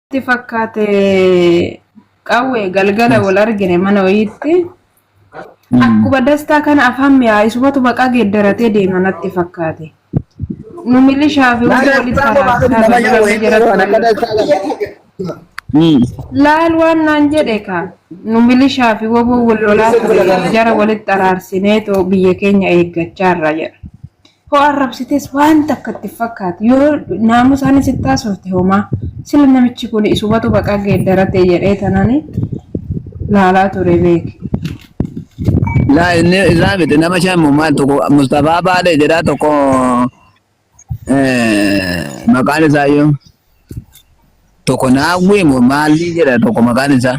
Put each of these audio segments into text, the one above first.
Itti fakkaate qawwe galgala wal argine mana wayiitti akkuma dastaa kana afaan mi'aayisumatu maqaa geeddaratee deema natti fakkaate. Nu milishaa fi hundi walitti araarsaa irra jirame jedhatu laal waan naan jedhe ka nu milishaa fi waboo wal lolaa ture jara walitti araarsinee too biyya keenya eeggachaa irra jedha. Hoo arrabsites waan takka itti fakkaatu yoo naamusaan sitti haasofte homaa sila namichi kun isumatu baqaa geeddarate jedhee tanani laalaa ture beeki. Laa inni isaa miti nama shan maal tokko Mustafaa Baalee jedhaa tokko maqaan isaa iyyuu tokko Naawwii moo maalii jedha tokko maqaan isaa.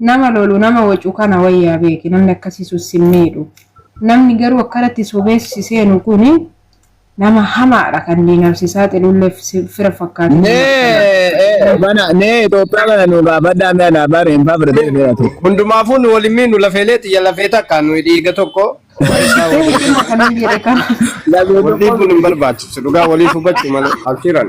Nama lolu nama wacu kana wayya beeki namni akkasi sun sin miidhu namni garuu akkanatti sobee si seenu kuni nama hamaadha kan diinaaf si saaxilulle fira fakkaatu nama akkana mana nee Itoophiyaa kana nu gaafadhaa mee anaa baari hin faafre ta'e beera ta'e. Hundumaafuu nu waliin miinu lafeelee xiyya lafee takka nuyi dhiiga tokko isaa ta'e waliin. dhimma kanan jedhe kana Lafee Waliin tokko kun hin barbaachisu dhugaa waliif hubachuu malee abshiran.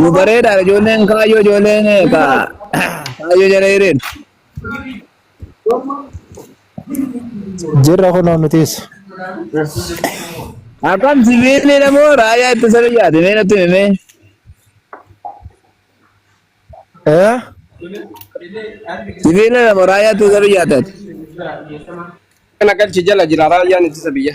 Nu bareedaadha ijoolleen kaayyoo ijoolleen eh, ka kaayyoo jala hiriir. Jirra kunoo nutis. Akkam siviilii namoo raayyaa ittisa biyyaati mee natti himi mee. Eh? Siviilii namoo raayyaa ittisa biyyaati. Kana galchi jala jira raayyaan ittisa biyya.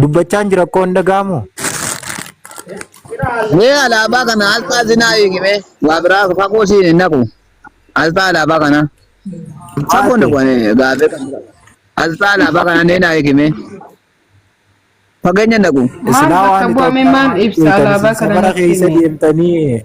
Dubbachaan jira koo hin dhaga'amu. Mee alaabaa kana asxaa sinaa hiiki mee waa biraa fagoo siin hin naqu. Asxaa alaabaa kana. Fagoo naqu ani gaafee kan bira. Asxaa alaabaa kana nee naa hiiki mee. Fageenya naqu. Isinaa bakka waan bu'ame maal ibsa alaabaa kana bara keessa deemtanii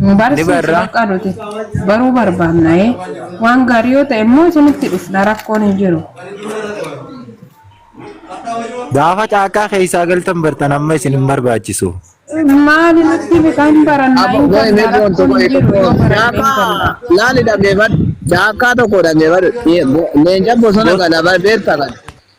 Nu barsiisi barra. bakka nuti baruu barbaanna ee. Waan gaarii yoo ta'e immoo isinitti dhufna rakkoon hin jiru. Gaafa caakkaa keessaa galtan bartan amma isin hin barbaachisu. Maali nutti bitaa hin barannaa hin Abbo inni gannaa kun tokko rakkoon hin jiru yoo baranne hin Daaka gannaa. laali dhageeffadhu. Daakkaa tokko dhageeffadhu. Leenca bosona kana beekta kana.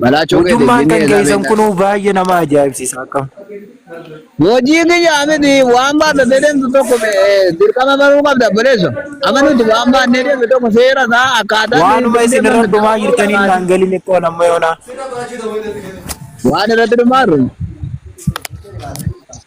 Balaachoo keetiif Hojummaan dinnee kan isaa keessan beektaa? kunuu baay'ee nama ajaa'ibsiisa akkam. Hojii kiyyaa miti waan baadhatee deemtu tokko eh, dirqama baruu qabda obboleesso. Amma nuti waan baannee deemnu tokko seera isaa akkaataa nuyi Waanuma ittiin isin deemnu irra mirgaa dhumaa qabuu jirtaniin qabaata. naan galin ikkoon amma yoonaa. Waan irratti dhumaarru.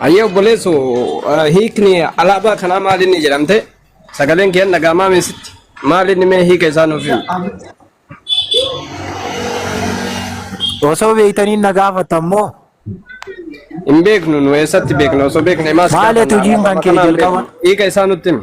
Ayyee obboleessu eh, hiikni alaabaa kanaa maal inni jedhamte sagaleen kee dhagaamaa meesitti maal inni mee hiika isaa nuuf himi. Osoo beektanii na gaafatan moo Hin beeknu nu eessatti beekna osoo beekne maas Maali gaafanna, hojiin alaabaa kan kee kanaa hin jalqaba? beeknu. Hiika isaa nutti himi.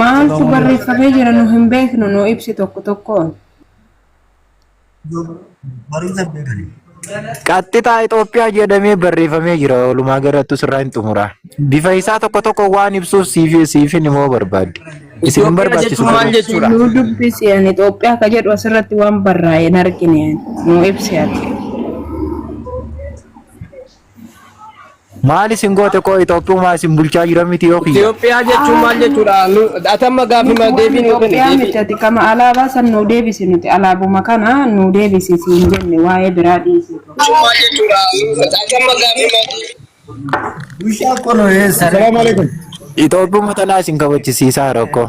Maaltu barreeffamee jira nu hin beeknu nu ibsi tokko tokkoon. Barumsa hin beekani. Qaxxixaa Itoophiyaa jedhamee barreeffamee jira. Walumaa galattu sirraa hin xumura. Bifa isaa tokko tokko waan ibsuuf siif siifin immoo barbaadde. Isin hin Itoophiyaa barbaachisu. jechuun maal jechuudha? Nu dubbisi an Itoophiyaa ka jedhu asirratti waan barraa'e hin argine nu ibsi ati. Maal isin goote koo Itoophiyaa isin bulchaa jira miti yoo kiyya. Itoophiyaa jechuun maal jechuudha? Nu- Atamma gaaffii maal deebii nuu kenni Itoophiyaa deebii. miti ati kama alaabaa san nuu deebisi nuti alaabuma kana nuu deebisi siin jenne waa'ee biraa dhiisi. Maal jechuudha? Atamma gaaffii maal deebii. Assalamu alaikum. Itoophiyaa tanaa isin kabachisiisaa rakkoo.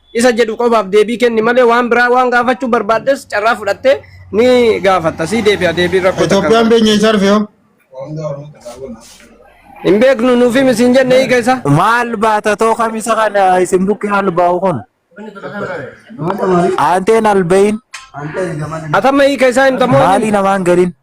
isa jedhu qofaaf deebii kenni malee waan biraa waan gaafachuu barbaaddes carraa fudhattee ni gaafatta sii deebi'a deebiin rakkoo takka hin Itoophiyaan qabu. beenye isaarfe yoo. hin beeknu nuuf himi siin jenne hiika isaa Maal baata too kamisa kana isin bukkee albaa'u kun? Aanteen alba'iin atamma hiika isaa himta moo maalii namaan galiin?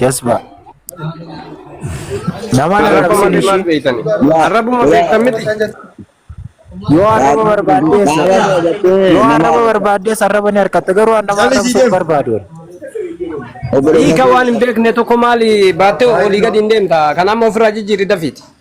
Jasba. Namaan Arrabuma arrabsin maal ishii. beektan? Yaa, Arrabuma yaa. beektan miti. Yoo arraba barbaaddees. Baala godhatee Yoo nama arraba barbaaddees arraba ni harkatta. Garuu an nama arrabsuu hin barbaadu. obboleessa Hiika waan hin beekne tokko maali baattee olii gadi hin deemta. Kan amma ofirraa jijjiirri dafiiti.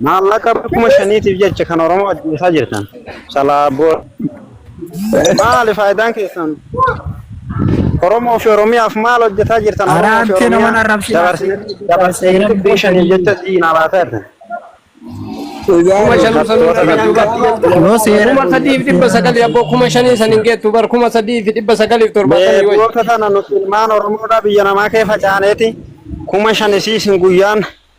Maallaqa bara kuma shaniitiif jecha kan Oromoo ajjeesaa jirtan. Salaaboo. Maali faayidaan keessan? Oromoo fi Oromiyaaf maal hojjetaa jirtan? Oromoo fi Araantee nama Oromiyaa narrabsiin dabarsine dabarsine kuma shaniif jecha diinaa laataa jirtan. Kuma shan usan Kuma irra shan duuba. Yoo seera Kuma sadii fi dhibba sagalii abboo kuma shanii san hin geettu bar kuma sadii fi dhibba sagalii fi torbaatamii wayi. Beekoota tana nuti ilmaan Oromoodhaa biyya namaa kee facaaneeti kuma shan isiisin guyyaan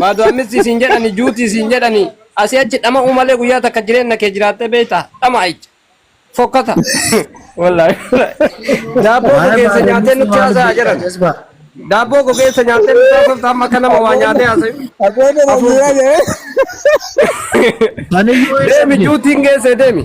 Baadu ammisti siin jedhani juuti siin jedhani asi achi dhama'uu malee guyyaa takka jireenna kee jiraattee beekta dhama'aicha fokkata wallahi daabboo Maal gogeessa baaduu nyaatee nutti maal haasa'a jedhan jazba. daabboo gogeessa nyaatee nutti haasofta amma akka nama waa nyaatee haasayu Abboota Afuuf. Rajiyaa jedhee. Ani yoo deemi eessa juutiin geesse deemi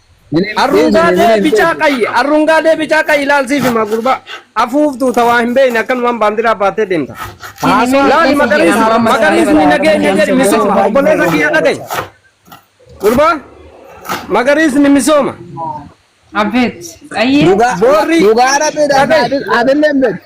Arrungaadee bicaa qayyi arrungaadee bicaa qayyi laal siif hima gurbaa afuuftuu tawaa hin beekne akkanumaan baandiraa baattee deemta. Laali magariisni magariisni nageenya jedhi misooma obboleessa kiyya dhagayi. Gurbaa magariisni misooma. Abeet. Ayyee. Dhugaa Boorri- dhugaa rabbiidha Dhaga'i. adilleen beektu.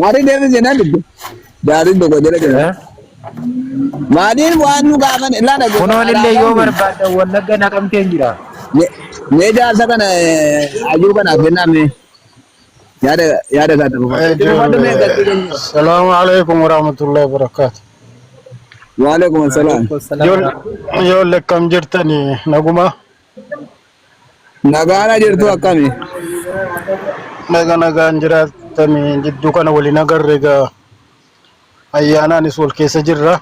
Maali deebi jenaa dubbe. Daadhiin tokko jala jira. Eh? Maaliin waan nu gaafan ilaa dhageeffa. Kunoon illee yoo barbaaddan wallagga naqamteen jira. Mee jaarsa kana hayyuu kanaaf kennaa mee yaada yaada isaa ta'uu qaba. Itti dubbadhu mee galtii keenya. Salaamu alaikum warahmatullahi wabarakatuh. Waalaikum salaam. Ijoollee akkam jirtani naguma Nagaana jirtu akkami? Naga nagaan jiraattame jidduu kana waliin agarre egaa ayyaanaanis wal keessa jirra.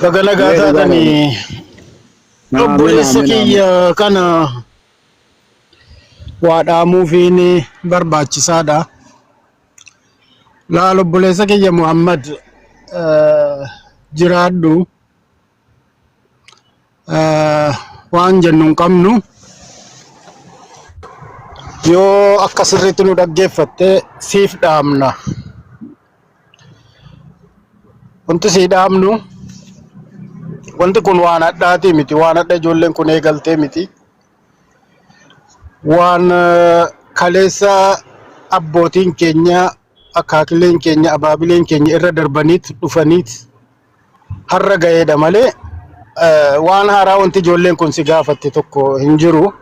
Baga nagaa Mee dhugaa taatanii Amiin obboleessa amiin amiin. kiyya kana waa dhaamuufiin barbaachisaadha. Laal obboleessa kiyya Muhammad eh, jiraadhu. eh, waan jennu hin qabnu yoo akka sirriitti nu dhaggeeffatte siif dhaamna wanti sii dhaamnu wanti kun waan hadhaatii miti waan hadha ijoolleen kun eegaltee miti waan eh, kaleessa abbootiin keenya akaakileen keenya abaabileen keenya irra darbaniit dhufaniit har'a ga'eedha malee eh, waan haaraa wanti ijoolleen kun si gaafatte tokko hin jiru.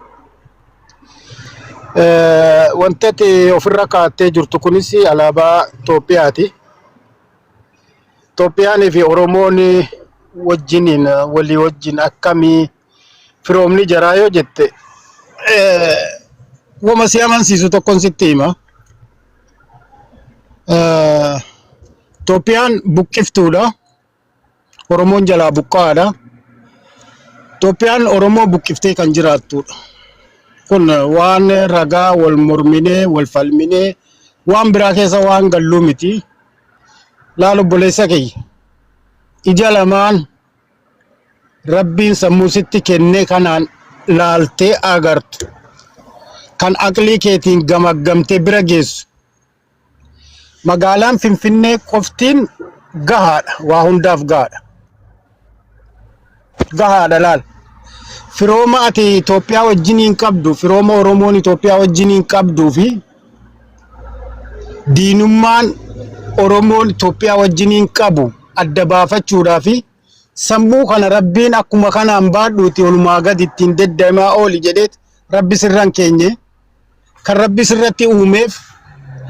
Eh, Wanti ati ofirra kaattee jirtu kunis alaabaa Itoophiyaati. Itoophiyaanii fi Oromoon wajjiniin walii wajjin akkamii firoomni jaraa yoo jette wama si amansiisu tokkon sitti hima. Itoophiyaan buqqiftuudha. Oromoon jalaa buqqa'aadha. Itoophiyaan Oromoo buqqiftee kan jiraattuudha. Kun waan ragaa wal morminee wal falminee waan biraa keessa waan galluu miti. Laal obboleessa kiyya. Ija lamaan Rabbiin sammuu sitti kennee kanaan laaltee agartu kan aqlii keetiin gamaggamtee bira geessu magaalaan Finfinnee qoftiin gahaadha waa hundaaf gahaadha gahaadha laal firooma ati Itoophiyaa wajjiniin qabdu firooma Oromoon Itoophiyaa wajjiniin qabduu fi diinummaan Oromoon Itoophiyaa wajjiniin qabu adda baafachuudhaa fi sammuu kana rabbiin akkuma kanaan baadhuuti olumaa gadi ittiin deddeemaa ooli jedheet rabbi sirran keenye kan rabbi sirratti uumeef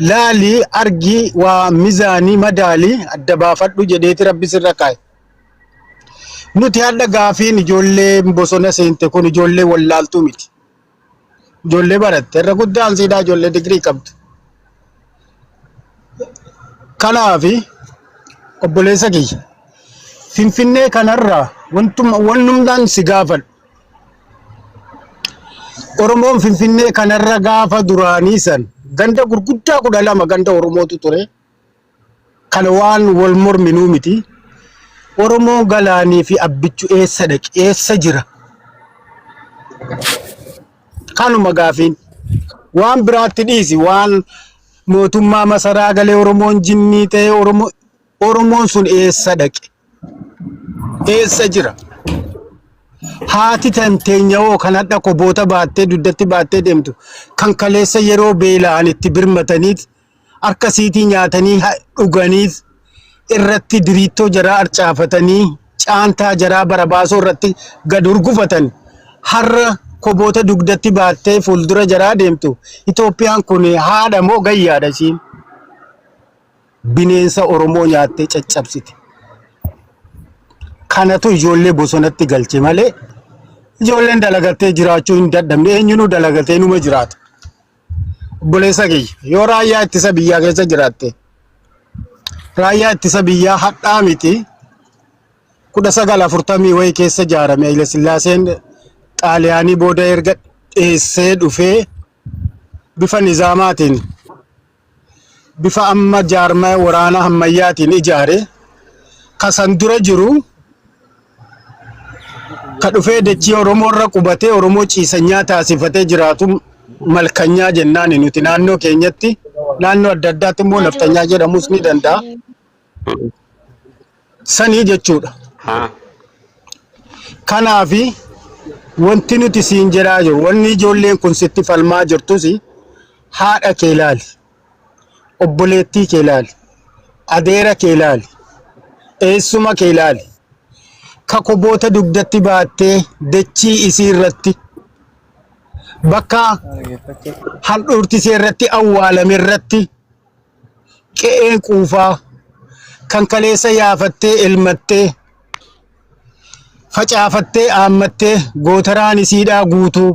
laalii argii waa mizaanii madaalii adda baafadhu jedheeti rabbi sirra kaa'e. Nuti hadha gaafiin ijoollee bosona seente kun ijoollee wallaaltuu miti. Ijoollee baratte irra guddaan siidaa ijoollee digirii qabdu. Kanaaf obboleessa kiyya Finfinnee kanarraa wantuma wannumdaan si gaafadhu. Oromoon Finfinnee kanarra gaafa duraanii san ganda gurguddaa kudha lama ganda Oromootu ture. Kana waan wal morminuu miti. Oromoo Galaanii fi Abbichu eessa dhaqe? Eessa jira? Kanuma gaafiin. Waan biraatti dhiisi. Waan mootummaa masaraa galee Oromoon jinnii ta'e Oromoo Oromoon sun eessa dhaqe? Eessa jira? Haati tanteenya hoo kan hadha koboota baattee dugdatti baattee deemtu kan kaleessa yeroo beela'an itti birmataniit harka siitii nyaatanii ha- dhuganiis irratti diriittoo jaraa arcaafatanii caantaa jaraa barabaasoo irratti gad hurgufatan har'a koboota dugdatti baattee fuuldura jaraa deemtu Itoophiyaan kun haadha moo gayyaadha ishiin bineensa Oromoo nyaattee caccabsite. Kanatu ijoollee bosonatti galche malee ijoolleen dalagattee jiraachuu hin dadhabne eenyunuu dalagatee numa jiraata. Obboleessa kiyya yoo raayyaa ittisa biyyaa keessa jiraatte raayyaa ittisa biyyaa hadhaa miti kudha sagal afurtamii wayii keessa ijaarame Haile Sillaaseen xaaliyaanii booda erga dheessee dhufee bifa nizaamaatiin bifa amma jaarmaya waraanaa hammayyaatiin ijaare ka san dura jiru ka dhufee dachii Oromoo irra qubatee Oromoo ciisanyaa taasifatee jiraatu malkanyaa jennaani nuti naannoo keenyatti naannoo adda addaatti immoo naftanyaa jedhamuus ni danda'a. sanii jechuudha. haa Kanaafi wanti nuti siin jedhaa jiru wanni ijoolleen kun sitti falmaa jirtus haadha kee ilaali, obboleettii kee ilaali, adeera kee ilaali, eessuma kee ilaali. Ka koboota dugdatti baattee dachii isii irratti bakka handhuurtisee irratti awwaalame irratti qe'ee quufaa kan kaleessa yaafattee elmattee facaafattee aammattee gootaraan isiidhaa guutuu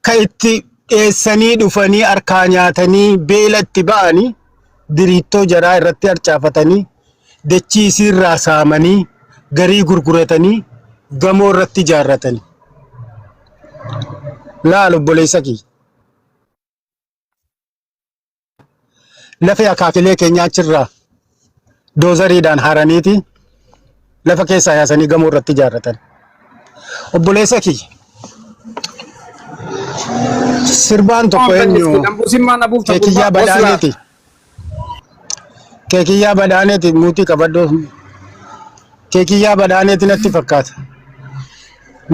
ka itti dheessanii dhufanii harkaa nyaatanii beela itti ba'anii diriittoo jaraa irratti harcaafatanii dachii isiirraa saamanii garii gurguratanii gamoo irratti ijaarratanii. Laal obboleessa kiyya. Lafee akaakilee keenyaa achirraa doozariidhaan haraniiti lafa keessaa yaasanii gamoo irratti ijaarratan. Obboleessa kiyya. Sirbaan tokko eenyu? Keekiyyaa badhaaneti. Keekiyyaa badhaaneti muutii qabadhu. Kee kiyyaa badhaaneeti natti fakkaata.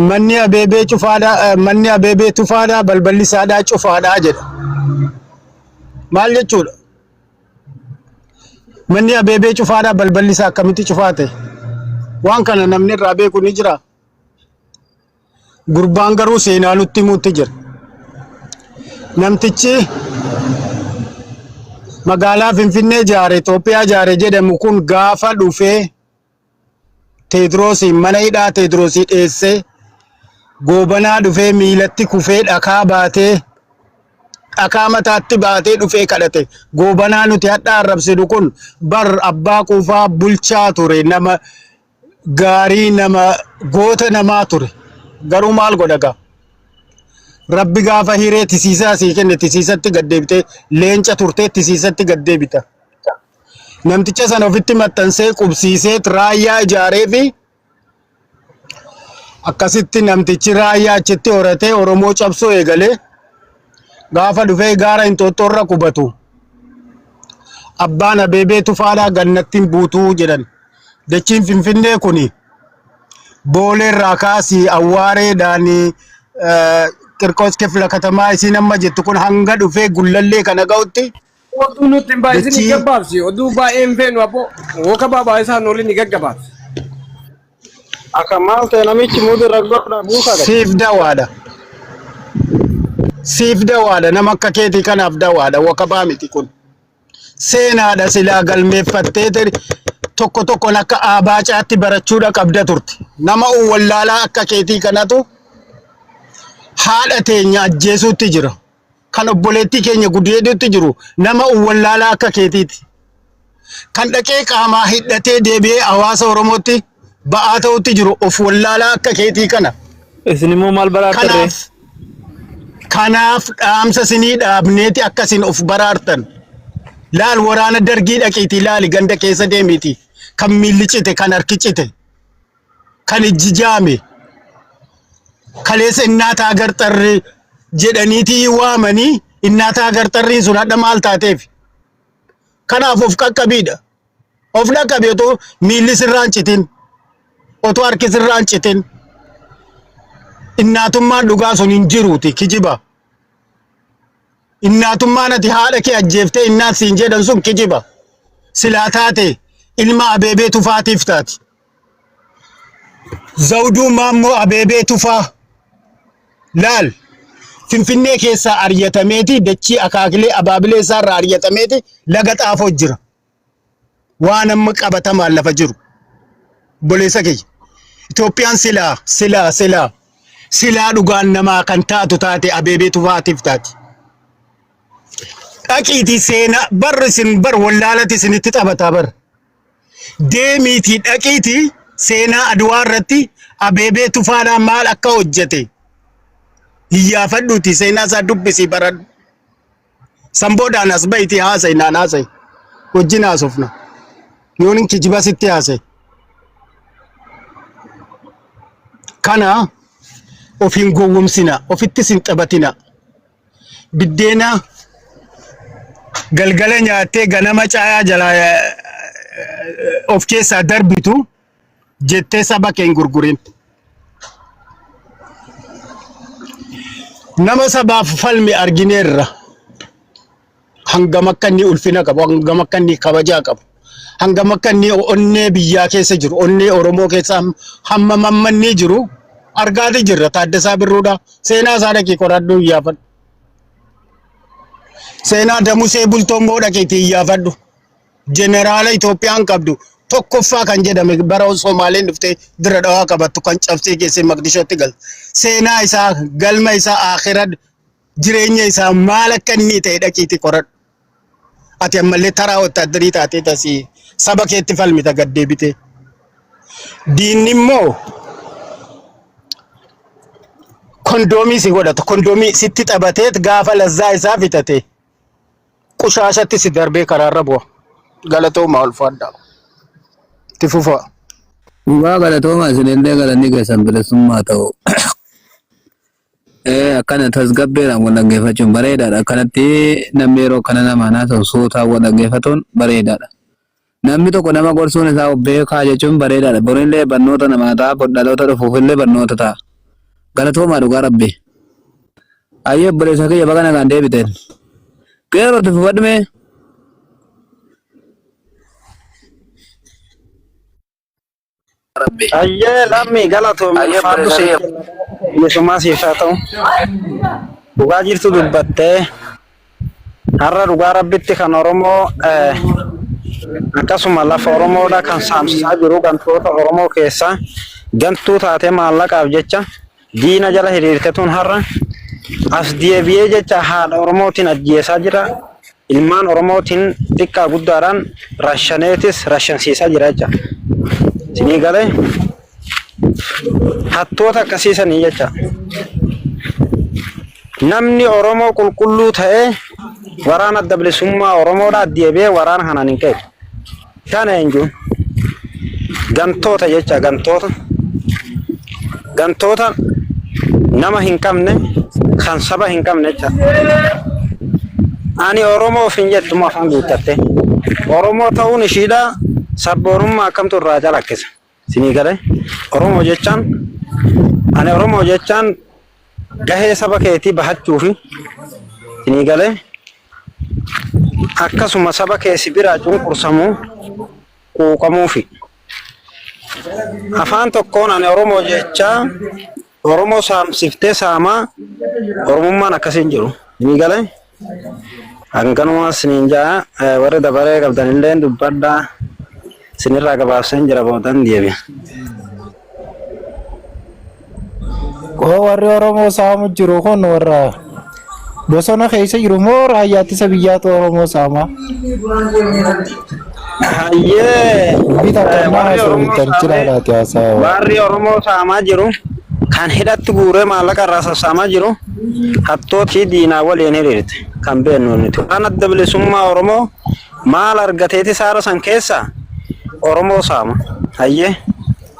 Manni abeebee cufaadha, eh, manni abeebee tufaadha, balballi isaadhaa cufaadha jedha. Maal jechuudha? Manni abeebee cufaadha, balballi isaa akkamitti cufaa ta'e? Waan kana namni irraa beeku ni jira. Gurbaan garuu seenaa nutti himuutti jira. Namtichi magaalaa Finfinnee ijaare Itoophiyaa ijaare jedhamu kun gaafa dhufee Teediroosiin mana hidhaa Teediroosii dheessee goobanaa dhufee miilatti kufee dhakaa baatee dhakaa mataatti baatee dhufee kadhate. Goobanaa nuti hadhaa arrabsinu kun bar abbaa quufaa bulchaa ture nama gaarii nama goota namaa ture garuu maal godha gaa rabbi gaafa hiree tisiisaa sii kenne tisiisatti gad deebite leenca turtee tisiisatti gad deebita namticha sana ofitti maxxansee qubsiisee raayyaa ijaaree fi akkasitti namtichi raayyaa achitti horatee oromoo cabsuu eegalee gaafa dhufee gaara Inxooxxoo irra qubatu abbaan Abeebee Tufaadhaa gannattiin buutuu jedhan. Dachiin Finfinnee kun boolee irraa kaasii awwaareedhaan qirqoos kifla katamaa isiin amma jettu kun hanga dhufee gullallee kana ga'utti Oduu nutti hin baay'isin Dachii. gaggabaabsi. Oduu baay'ee hin feenu abboo. Wooka baabaa isaan olin ni gaggabaabsi. Akka maal ta'e namichi muudi irra godha buusaa gadi. Siif dawaadha. Siif dawaadha. Nama akka keetii kanaaf dawaadha. Wakabaa miti kun. Seenaadha silaa galmeeffattee tiri. Tokko tokkoon akka aabaacaatti barachuudha qabda turte. Nama wallaalaa akka keetii kanatu haadha teenya ajjeesuutti jira. kan obboleettii keenya gudeeduutti jiru nama uwwallaalaa akka keetiiti. Kan dhaqee qaamaa hidhatee deebi'ee hawaasa Oromootti ba'aa ta'utti jiru of wallaalaa akka keetii kana. Isin immoo maal baraartarree? Kanaaf kanaaf dhaamsa sinii dhaabneeti akka isin of baraartan. Laal waraana dargii dhaqiitii laali ganda keessa deemiitii kan miilli cite kan harki cite. kan ijji jaame kaleessa innaata agar xarree jedhaniitii waamanii innaata agar xarriin sun hadha maal taateef kanaaf of qaqqabiidha of dhaqqabi otoo miilli sirraan citin otoo harki sirraan citin innaatummaan dhugaa sun hin jiruuti kijiba innaatummaan ati haadha kee ajjeeftee innaat siin jedhan sun kijiba silaa taate ilma abeebee tufaatiif taati. Zawduu Maammoo Abeebee Tufaa laal Finfinnee keessaa aryatameeti dachii akaakilee abaabilee isaarraa aryatameeti laga xaafoo jira. Waan amma qabatamaan lafa jiru. Obboleessa kiyya. Itoophiyaan silaa silaa silaa silaa dhugaan namaa kan taatu taate Abeebee Tufaatiif taati. Dhaqiitii seenaa barri isin bar wallaalati isinitti taphataa bar. deemiitii dhaqiitii seenaa Adwaa irratti Abeebee Tufaadhaa maal akka hojjete hiyyaafadhuutii seenaa isaa dubbisii baradhu. San boodaan as ba'iitii haasa'i naan haasa'i. Wajjin haasofna. Yoon hin kijiba sitti haasa'e. Kana of hin gowwomsina. Ofittis hin taphatina. biddeena galgala nyaattee ganama caayaa jalaa eh, of keessaa darbitu jettee saba kee hin gurgurin. Nama sabaaf falmi argineerra. hangam akka inni ulfina qabu, hangam akka inni kabajaa qabu, hangam akka inni onnee biyyaa keessa jiru, onnee Oromoo keessa ham- hammam hamma inni jiru argaati jirra. Taaddasaa Birruudha. Seenaa isaa dhaqii qoradhu iyyaafadhu. Seenaa Damusee Bultoo immoo dhaqiitii iyyaafadhu. Jeneraala Itoophiyaan qabdu tokkoffaa kan jedhame bara Somaaleen dhuftee dira dhawaa qabattu kan cabsee geessee Maqdishootti galte. Seenaa isaa galma isaa akhiraa jireenya isaa maal akka inni ta'e dhaqiitii qoradhu. Ati ammallee taraa wotaaddarii taatee tasii saba keetti falmita gad deebitee. Diinni immoo kondoomii si godhata. Kondoomii sitti taphatee gaafa lazzaa isaa fitate qushaashatti si darbee karaarra bu'a. Galatoomaa ulfaadhaa. Itti fufaa. Dhugaa galatoomaa isinillee galanni keessan bilisummaa ta'u. Ee akkana tasgabbeedhaan wal dhaggeeffachuun bareedaadha. Akkanatti namni yeroo kana nama haasa'u suutaan wal dhaggeeffatuun bareedaadha. Namni tokko nama gorsuun isaa of beekaa jechuun bareedaadha. Borillee barnoota namaa ta'a, bor dhaloota dhufuufillee barnoota ta'a. Galatoomaa dhugaa rabbi. Ayyee obboleessa kiyya baga nagaan deebiteen. Qeerroo irratti fufadhu mee. Rabbi. Ayyee lammii galatoomi Ayyee ulfaadhu siif bareedalee. kenna bilisummaa siif haa ta'u. Dhugaa jirtu dubbattee har'a dhugaa rabbitti kan Oromoo eh, akkasuma lafa Oromoodha kan saamsisaa jiru gantoota Oromoo keessaa gantuu taatee maallaqaaf jecha Diina jala hiriirkatuun har'a as deebi'ee jecha haadha Oromootiin ajjeesaa jira. Ilmaan Oromootiin xiqqaa guddaadhaan rashaneetis rashansiisaa jira jecha. Sinii galee hattoota akkasii sanii jecha. Namni Oromoo qulqulluu ta'ee waraana adda bilisummaa Oromoodhaa deebi'ee waraana kanaan hin ka'e. Kana jechuun gantoota jecha gantoota gantoota nama hin qabne kan saba hin qabne jecha ani oromoo ofin jettu moo afaan guuttatte oromoo ta'uun ishiidha sabboonummaa akkamtu irraa calaqqisa Sinii galee Oromoo jechaan ani Oromoo jechaan gahee saba keetii bahachuufi sinii galee akkasuma saba kee si biraa cunqursamuu quuqamuufi. Afaan tokkoon ani Oromoo jechaa Oromoo saamsiftee saamaa Oromummaan akkasii hin jiru. Ni galee? Hanganumaa isiniin ja'a eh, warri dabaree qabdan illee dubbadhaa isinirraa gabaabseen jira boodan deebi'a. Koo warri Oromoo saamu jiru kun warra Bosona keessa jiru moo raayyaa ittisa biyyaatu Oromoo saamaa? Hayyee. Bita Eh, kan warri naa Oromoo sobitan saamee- jira laati haasaa. Warri Oromoo saamaa jiru kan hidhatti guuree maallaqa irraa sassaamaa jiru hattootii diinaa waliin hiriirte kan beeknu nuti. Waan adda bilisummaa Oromoo maal argateeti saara san keessa Oromoo saama. Hayyee.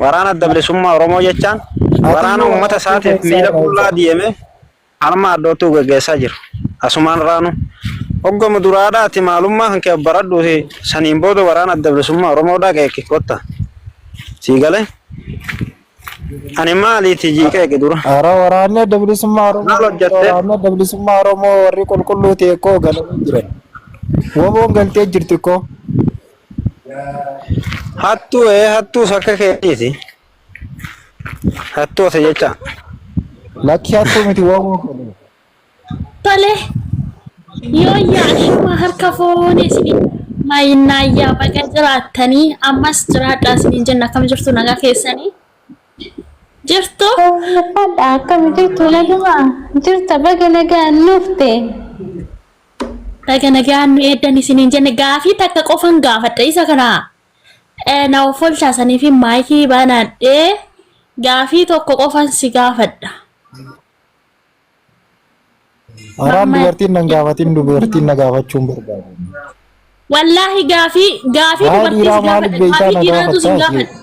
Waraana Adda Bilisummaa Oromoo jechaan waraana uummata isaatiif miila qullaa deeme harma hadhooftuu gaggeessaa jiru. Asumaan raanu hoggama duraadhaa ati maalummaa kan kee baradhuuti saniin booda waraana Adda Bilisummaa Oromoodhaa qeeqi kotta. Sii galee? Ani maaliiti jii qeeqi dura? Hara waraanni adda bilisummaa Oromoo Maal hojjette? waraanni adda bilisummaa Oromoo warri qulqulluu ta'e koo galanii jiran. Waboon galtee jirti koo. Hattuu ee hattuus akka keetiiti. Hattuu ose jecha. Lakki hattuu miti waamuu fedhe. Tole. Yooyyaa ashuma harka foonee isin maayinnaayyaa baga jiraattanii ammas jiraadhaa isiniin jenna akkam jirtu nagaa keessanii jirtu. Fadha akkam jirtu naguma jirta baga nagaan nufte. Baga nagaan nu eeddan isiniin jenne gaafii takka qofan gaafadha isa kana na offolchaa saniifin maayikii banaadhee gaafii tokko qofan si gaafadha. Araan Mamma- dubartiin nan gaafatin dubartiin na gaafachuun barbaadu. Wallaahi gaafii gaafii Haa dubartii dhiiraa si maaliif gaafadha beektaa gaafii na dhiiraatu si gaafadha. gaafadha.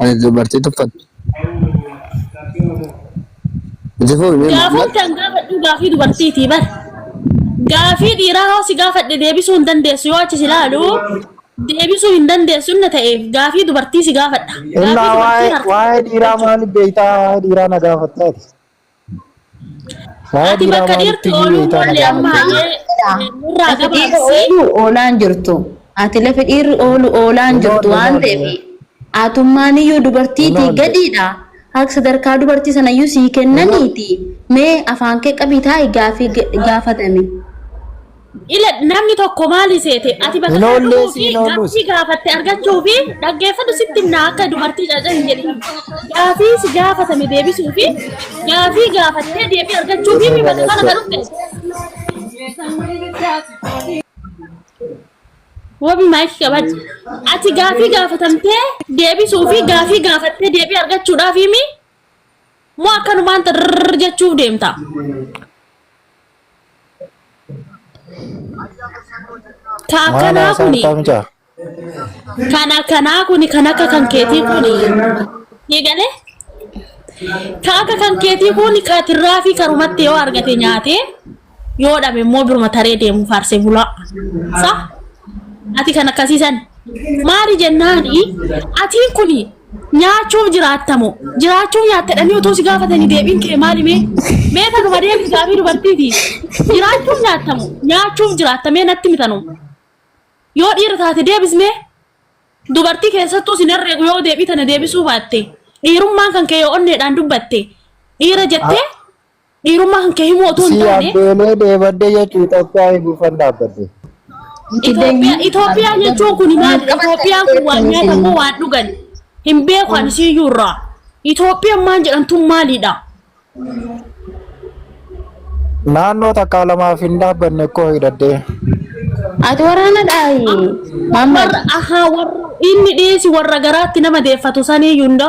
Ani dubartii tuffattu. Itti fufi mee Muhammad. Gaafatti an gaafadhu gaafii dubartiiti bar. Gaafii dhiiraa hoo si gaafadhe deebisuu hin dandeessu yoo achi si ilaalu deebisuu hin dandeessu inni ta'eef gaafii dubartii si gaafadha. Gaafii Innaa dubartii waa'ee harka waa'ee dhiiraa maaliif beektaa? Waa'ee dhiiraa na gaafattaati. Faaya Ati diiraa bakka maalitti dhiirti iyyuu ooluu beektaa na malee amma gaafate. hayyee eh, nurraa Lafi dhiirri gabaabsi. oolu oolaan jirtu. Ati lafi dhiirri oolu oolaan Kunoo jirtu waan kunoo ta'eef deebi'e. atummaan iyyuu dubartiitii Kunoo deebi'e. gadiidha. Akka sadarkaa dubartii sana iyyuu sii kennaniiti. Mee afaan kee qabii taa'i gaafii ga- gaafatame. Ila namni tokko maali seete ati bakka Hin oollee dhaquu si fi hin oolluus. gaaffii gaafatte argachuu fi dhaggeeffatu sitti himna akka dubartii caca hin jedhin. Gaaffii si gaafatame deebisuu fi gaaffii gaafattee deebii argachuu fi bakka kana kan dhufte. Wabi maayikii qabadhu. Ati gaaffii gaafatamtee deebisuu fi gaaffii gaafattee deebii argachuudhaaf himi Moo akkanumaan xirrrr jechuuf deemta? Ka Maal akkanaa haasaa kuni jirtaa mucaa? kan akkanaa kuni kan akka kan keetii kuni ni galee ka akka kan keetii kuni ka tirraafii karumatti yoo argate nyaatee Yoo dhabe immoo biruma taree deemu faarsee bulaa. Sa? Ati kan akkasii san. Maali jennaani atiin kuni nyaachuuf jiraattamo jiraachuuf nyaattadhanii otoo si gaafatanii deebiin kee maali mee mee tanuma deebi gaafii dubartiiti jiraachuuf nyaattamo nyaachuuf jiraattamee natti mitanu yoo dhiira taate deebismee dubartii keessattuu sin herreegu yoo deebii tana deebisuu baatte dhiirummaan kan kee yoo onneedhaan dubbatte dhiira jettee Dhiirummaa kan kee himuu otoo hin Si taane abbeelee dheebadde jechuun Itoophiyaa eeguufan dhaabbadde. Itoophiyaa Itoophiyaa jechuun kun maal Itoophiyaan kun waan nyaatan moo waan dhugan hin beeku ani siiyyuu irraa Itoophiyaan maal jedhamtu maalidha? Naannoo takkaa lamaaf hin dhaabbanne koo hidhadhee. Ati waraana dhaayi. Maammal. Warra ahaa warra inni dhiyeessi warra garaatti nama deeffatu sanii hunda.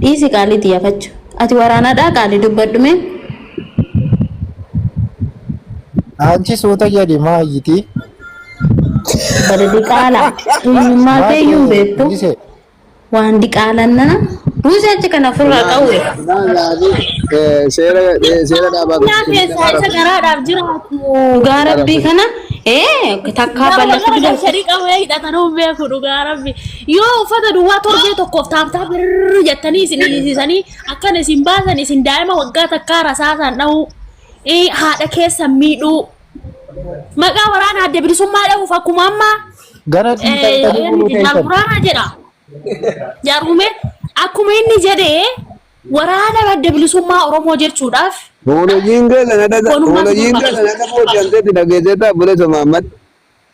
Dhiisi qaalii tiyya fachu. Ati waraanadhaa qaali dubbadhu mee. Anchi suuta jedhi maa iyyiti. Bada diqaala. Eenyummaa kee iyyuu hin beektu. Mulise. Waan diqaalan nana. Buuse achi kana ofirraa qawwe. Seera seera dhaabaa Yaa keessaa isa garaadhaaf jiraatu dhugaa rabbii kana ee takkaa balleessu Dhugaa dida. sharii qabu hidhatan hin beeku dhugaa rabbi. Yoo uffata duwwaa torbee tokkoof taabtaa birr jettanii isin dhiisisanii akkana isin baasan isin daa'ima waggaa takkaa rasaasaan dhahuu eh, haadha keessan miidhuu maqaa waraana adda bilisummaa dhahuuf akkuma amma Gara eh, dhiitantanii eenyu buluu jennaal keessan. waraana jedha. Jaarmume akkuma inni jedhee waraana adda bilisummaa Oromoo jechuudhaaf Hoolojiin keessan adda Walumaa hoolojiin duuba keessan adda booji'amteetti dhageesseetti abboleessa Mahammad.